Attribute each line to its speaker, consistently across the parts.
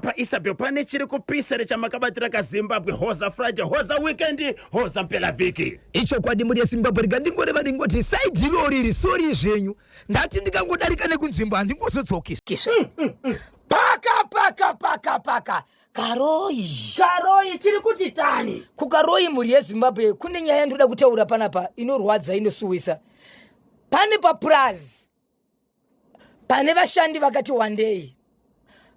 Speaker 1: paisabel pane chiri kupisa here chamakabatira kazimbabwe hoza friday hoza weekend hoza mpela vhiki ichokwadi mhuri yezimbabwe
Speaker 2: rega ndingoreva ndingoti saidi iroo riri sori zvenyu ndati ndikangodarika nekunzvimbo handingozodzokisa mm, mm, mm. paka paka
Speaker 3: paka paka karoyi karoyi chiri kuti
Speaker 4: tani kukaroyi mhuri
Speaker 3: yezimbabwe kune nyaya ndinoda kutaura panapa inorwadza inosuwisa pane papurazi pane vashandi vakati wandei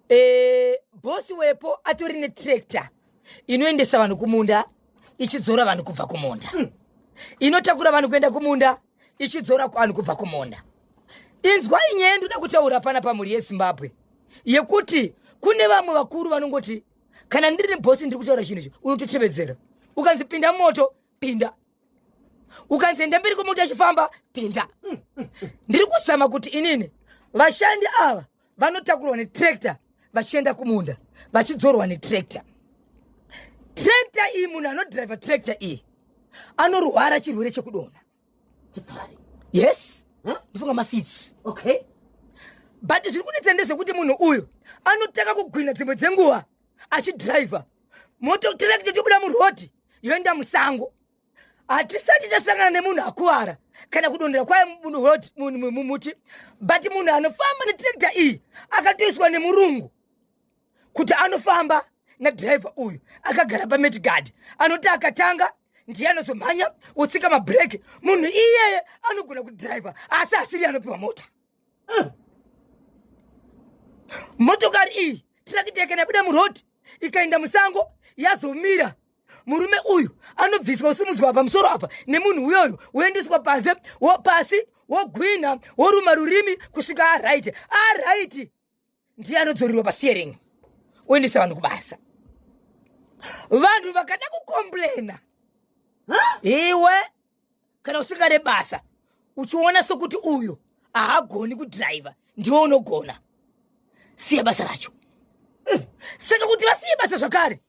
Speaker 3: e, bosi wepo atori netrakta inoendesa vanhu kumunda ichidzora vanhu kubva kumunda mm. inotakura vanhu kuenda kumunda ichidzora vanhu kubva kumunda inzwa inyaya yandoda kutaura pana pamhuri yezimbabwe yekuti kune vamwe vakuru vanongoti kana ndiri nebosi ndiri kutaura chinhu icho unototevedzera ukanzi pinda moto pinda ukanzi enda mberi kwemota ichifamba pinda ndiri kuzama kuti inini vashandi ava vanotakurwa netractor vachienda kumunda vachidzorwa netractor tractor iyi munhu anodriver tractor iyi anorwara chirwere chekudonha chipfari
Speaker 4: yes Huh?
Speaker 3: ndifunga mafitsi okay
Speaker 4: but
Speaker 3: zviri kunetsa ndezvekuti munhu uyu anotanga kugwina dzimwe dzenguva achidriver moto tractor chobuda murhodhi yoenda musango hatisati tasangana nemunhu akuvara kana kudondera kwaye mumuti but munhu anofamba netrekta iyi akatoiswa nemurungu kuti anofamba nadhiraivha uyu akagara pametigard anoti akatanga ndiye anozomhanya wotsika mabreak munhu iyeye anogona kudhiraivha asi asiri anopiwa mota mm. motokari iyi tirakiti yakanabuda muroad ikaenda musango yazomira murume uyu anobviswa usimudzwa pamusoro apa nemunhu uyoyo woendeswa panze wopasi wogwinha woruma rurimi kusvika araiti araiti ndiye anodzorerwa pasteering oendesa vanhu kubasa vanhu vakada kukomplena iwe kana usingade basa uchiona sokuti uyu ahagoni kudhiraivha ndiwe unogona siya basa racho saka kuti vasiye basa zvakare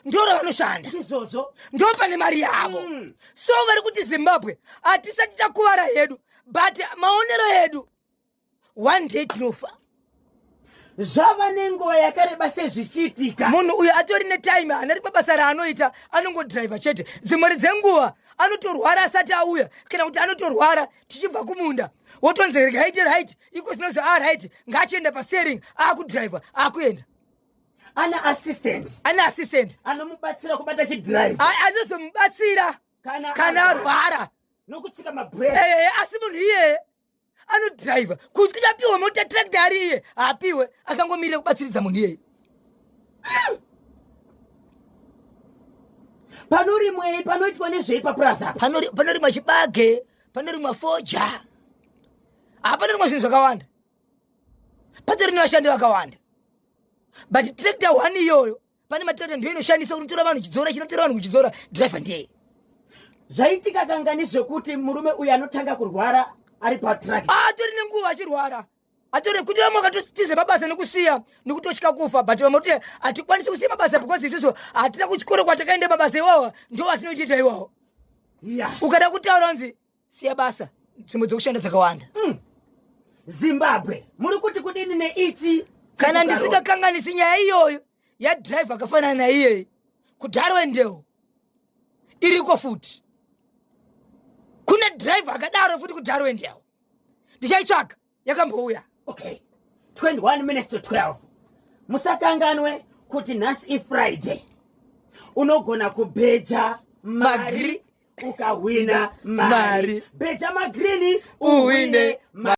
Speaker 3: ndo ravanoshanda izvozvo ndo
Speaker 4: pane mari
Speaker 3: yavo Mm. so vari kuti zimbabwe hatisati takuvara hedu but maonero edu one day tinofa
Speaker 4: zvava nenguva yakareba sezvichiitika munhu uyo atori
Speaker 3: netime hanari pabasa raanoita anongodriver chete dzimwari dzenguva anotorwara asati auya kana kuti anotorwara tichibva kumunda wotonzi regaite right iko zvinozvi a ah, right ngaachienda pasering aakudriver aakuenda ana
Speaker 4: assistant ana assistant anomubatsira kubata chidrive anozomubatsira
Speaker 3: kana arwara nokutsika
Speaker 4: mabreak eh, eh, eh, asi munhu iyeye
Speaker 3: anodriver kunzi kuti apiwe mota tractor ari iye haapiwe akangomirira kubatsiridza munhu iyeyi
Speaker 4: panorimwei panoitwa nezvei papurazi apa Panori- panorimwa chibage
Speaker 3: panorimwa foja haa panorimwa zvinhu zvakawanda patori nevashandi vakawanda but tractor one iyoyo pane matirata ndiyo inoshandisa unotora vanhu chidzora chinotora vanhu kuchidzora driver ndiye zvaitika
Speaker 4: kanga nezvekuti murume uyu anotanga kurwara ari patrack atori ah, nenguva
Speaker 3: achirwara atore kuti vamwe vakatotize mabasa nekusiya nekutotya kufa but vamwe kuti hatikwanisi kusiya mabasa because isiso hatina kuchikoro kwatakaenda mabasa iwawa ndo atinochiita iwawo ukada kutaura nzi siya basa dzimwe dzekushanda dzakawanda mm.
Speaker 4: zimbabwe muri kuti kudini neichi kana
Speaker 3: ndisingakanganisi nyaya iyoyo yadrive akafanana naiyeyi kudaro endewo iriko futi kune drive akadaro futi kudaro endewo ndichaitsvaga yakambouya okay 21
Speaker 4: minutes to 12 musakanganwe kuti nhasi ifriday unogona kubheja mari ukahwina mari bheja magrini uhwine mari